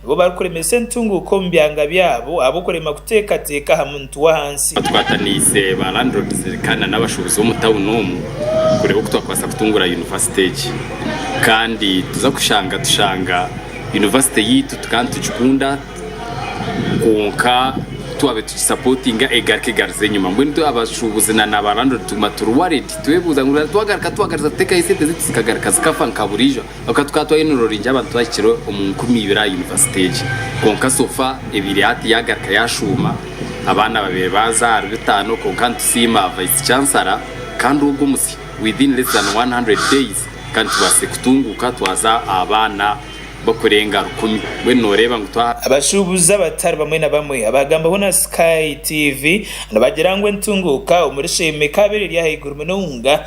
Nibo barikuremesa entunguuka omu byanga byabo ahabw'okurema kuteekateeka aha muntu w'ahansi. Twataniise ba Landlords kandi na n'abashuubuzi b'omu tawuni omu kureeba oku twakubaasa kutunguura yunivasite egi kandi tuza kushanga tushanga yunivasite yaitu tukaba nitugikunda kwonka ku twabaire tugisapootinga egaruka egarize enyima. Mbwenu itwe abashuubuzi na na ba Landlord tuguma turi worried twebuuza ngu twagaruka twagariza kuteekaho esente zaitu zikagaruka zikafa nka buriijo. Kwonka tukaba twariyo nituroringyera abantu twahikire omu nkumi ibiri aha yunivasite egyo. Kwonka sofa ebaire yati yagaruka yashuuma, abaana babaire baaza ahari bitaano kwonka nitusiima Vice Chancellor kandi ogwo musyo within less than 100 days kandi tubaasize kutunguuka twaza abaana barikurenga rukumi. Mbwenu nooreeba ngu twa. Abashuubuzi abatari bamwe na bamwe abaagambaho na Sky TV nibagira ngu entunguuka omuri Sheema ekaabaire eri ahaiguru munonga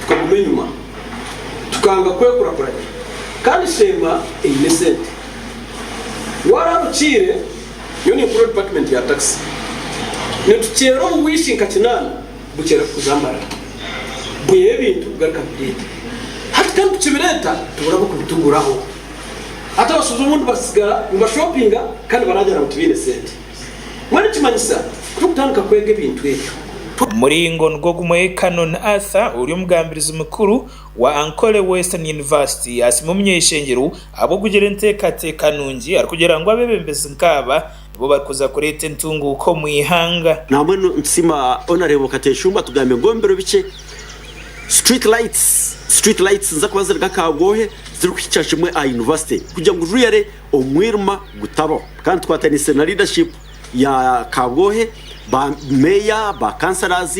tukaguma enyima tukanga kwekurakuranya kandi Sheema eine esente warara okiire nyowe ninkora department ya taxi nitukyera omu wiiki nka kinaana bukyere kukuza Mbarara bwiha ebintu kugaruka nibireeta hati kandi kukibireeta tubura abokubituguraho hati abashuuza obundi batsigara nibashopinga kandi baragira ngu tibaine sente. Mbwenu kimanyisa ku turikutandika kwega ebintu ebyo. Omuringo nigwo gumwe Canon Arthur ori omugambirizi mukuru wa Ankole Western University yaasiima omuny'eishengyero ahabw'okugira enteekateeka nungi arikugira ngu abeebembezi nk'aba nibo barikuza kureeta entunguuka omu ihanga. Nambwenu nitusiima Honarebo Kateshumba atugambire ngu omu biro bikye Street Lights, Street Lights, niziza kuba ziri nk'akaagoohe zirikuhikya kimwe aha University kugira ngu Rwiare, omwirima gutabaho kandi tukwatanise na leadership ya kabwohe ba meeya ba councillors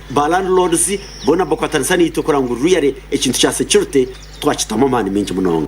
ba landlords boona bakwatanisa naitwe kureba ngu really ekintu kya security twakitamu amaani maingi munonga.